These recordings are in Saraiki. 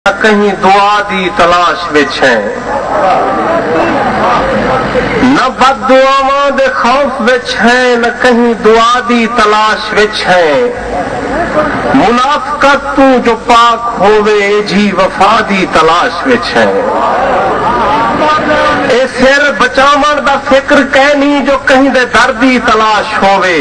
یا کہیں دعا دی تلاش وچ ہیں۔ نہ بد دعاواں دے خوف وچ ہیں نہ کہیں دعا دی تلاش وچ ہیں۔ منافقت توں جو پاک ہووے ایجھی وفا دی تلاش وچ ہیں۔ اے سر بچاوݨ دا فکر کینی جو کہیں دے در دی تلاش ہووے۔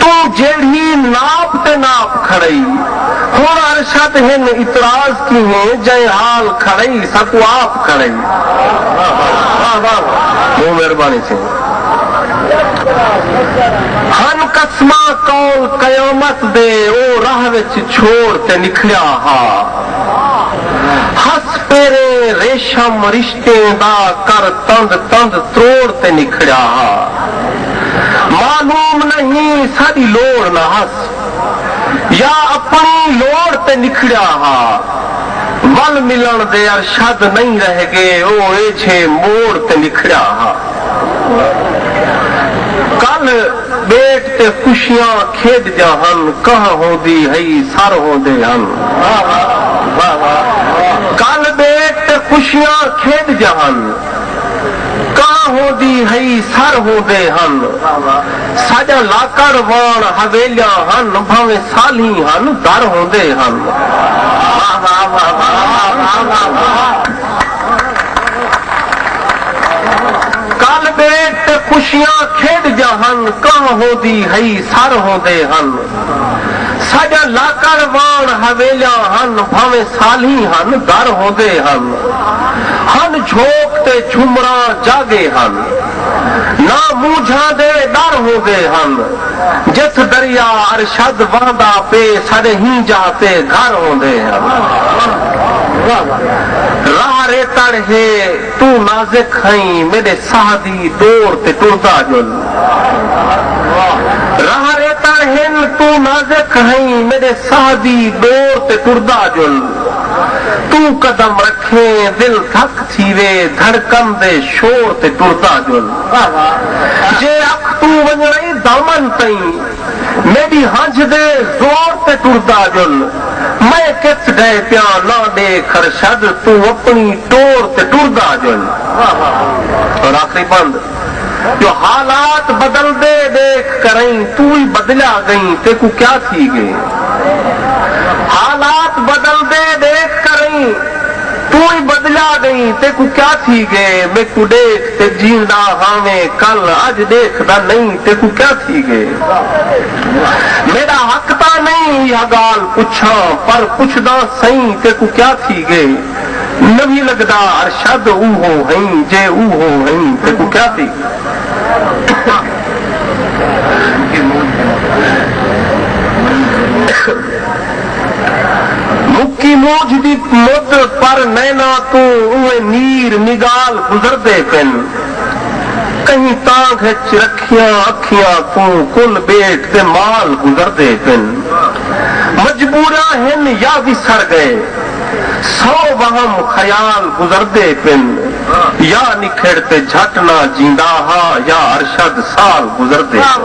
توں جیڑھی ناپ تے ناپ کھڑئی ہن ارشد ہن اعتراض کیہیں جئیں حال کھڑئی ساکوں آپ کھڑئی بہوں مہربانی سئیں ہن قسماں قول قیامت دے او راہ وچ چھوڑ تے نکھڑیا ہا ہس پیریں ریشم رشتہ تیں دا کر تند تند تروڑ تے نکھڑیا ہا۔ معلوم نئیں ساڈی لوڑ نہ ہس یا اپنڑی لوڑ تے نکھڑیا ہا۔ ول ملنڑ دے ارشد نئیں رہ گے او ایجھے موڑ تے نکھڑیا ہا۔ کل۔ ٻیٹ تے خوشیاں کھیݙدیاں ہن کہہ ہوندی ہئی سر ہوندے ہن کل ٻیٹ تے خوشیاں کھیݙدیاں ہن کہہ ہوندی ہئی سر ہوندے ہن ساݙا لاکڑ واݨ حویلیاں ہن بھانویں سالھیں ہن در ہوندے ہن۔ کل بیٹ تے خوشیاں کھیڈ جا ہن کاہ ہوندی ہئی سر ہوندے ہن ساجا لاکڑ وان حویلیاں ہن بھاویں سالھیں ہن در ہوندے ہن ہن جھوک تے جھمراں جاگے ہن ناں مونجھاں دے ڈر ہوندے ہن۔ جتھ دریا ارشد وہندا پے ساڈے ہی جاہ تے گھر ہوندے ہن راہ ریتڑ ہے توں نازک ہئیں میڈے ساہ دی ڈور تے ٹردا جل راہ ریتڑ ہن توں نازک ہئیں میڈے ساہ دی ڈور تے ٹردا جل توں قدم رکھیں دل دھک تھیوے دھڑکن دے شور تے ٹردا جل۔ واہ واہ جے اکھ توں ونجݨائی دامن تئیں میݙی ہنجھ دے زور تے ٹردا ڄل میں کتھ ڈھئے پیاں نہ ݙیکھ خرشد توں اپݨی ٹور تے ٹردا ڄل واہ واہ اور آخری بند جو حالات بدلدے ݙیکھ کرئیں توں وی بدلیا ڳئیں تیکوں کیا تھی ڳئے حالات بدلدے ݙیکھ کرئیں توں وی بدلیا ڳئیں تیکوں کیا تھی ڳئے میکوں ݙیکھ تے جیندا ہاویں کل اج ڈیکھدا نئیں تیکوں کیا تھی گئے میڈا حق تاں نئیں ایہا گالھ پچھاں پر پچھداں سئیں تیکوں کیا تھی گئے نویں لگدا ارشد اوہو ہئیں جے اوہو ہئیں تیکوں کیا تھی گئے۔ مکی مونجھ دی مد پر نیناں توں اوہیں نیر نگال گزردے پن۔ کہیں تانگھ اچ رکھیاں اکھیاں توں کل بیٹ تے مال گزردے پن۔ مجبوراں ہن یا وسر گئے۔ سو وہم خیال گزردے پن۔ یا نکھڑ تے جھٹ نہ جیندا ہا یا ارشد سال گزردے پن۔